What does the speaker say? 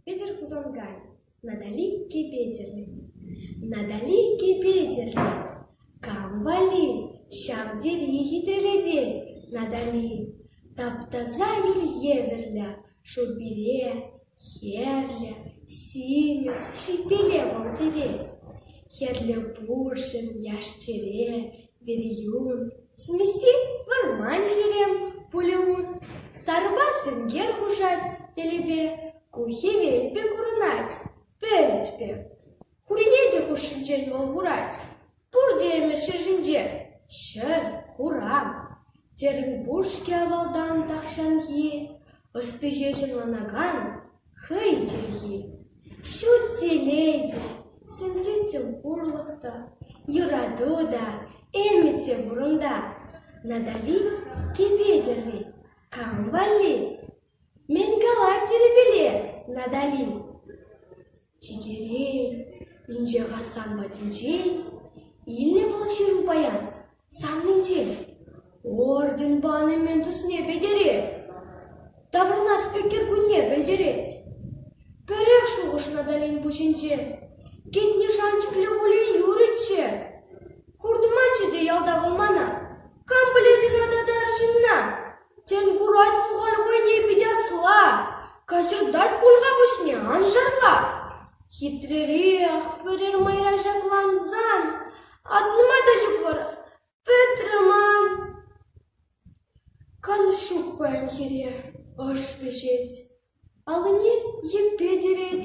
Петӗр Хусанкай, Натали Кепетерлет, Натали Кепетерлет, кам валли ҫав тери хитре Натали, таптаса юр евӗрлӗ шурпире Хӗрлӗ, симӗс, ҫиппеле вӑл тетет, хӗрлӗ пурҫӑн яш-чӗре, вериюн, симӗсе вӑрман ҫерем пулӗ ун, сарӑпа сенкер хушать тӗлӗпе, ку хӗвел пек курӑнать, пӗлӗт пек. Куренетӗк хушшинчен вӑл курать, пур теемӗш ҫӗр ҫинче — ҫӗр, хуран. Терӗн пур-ҫке авалтан тахҫанхи ӑсти ҫеҫ ӑнланакан хӑй чӗлхи. Ҫут телей сӗнчӗччӗ пурлӑх та, юрату та, ӗмӗт те пур унта. Натали кӗпе тӗрри кам валли? Мӗн калать тилӗпеле Натали? Чикере инҫе Хасан патӗнчен илнӗ вӑл ҫыру паян саннинчен. Орден пани мӗн тусне пӗтерет, таврӑнас-пӗ кӗркунне пӗлтерет. Пӗрех шухӑш Наталин пуҫӗнче. Кӗтне шанчӑклӗ пулин юрӗччӗ. Хуртӑманччӗ те ялта вӑл мана. Кам пӗлет ӑна татар ҫынна? Тен, курать вӑл халь хӑйне пит асли, кӑсӑртать пуль-ха пуҫне, ан шарла. Хитререх пӗрер майра ҫаклансан, асӑнма та ҫук вӑл, пӗтрӗ ман. Канӑҫ ҫук паян хире, ӑш вӗҫет, аллине йӗппе тирет.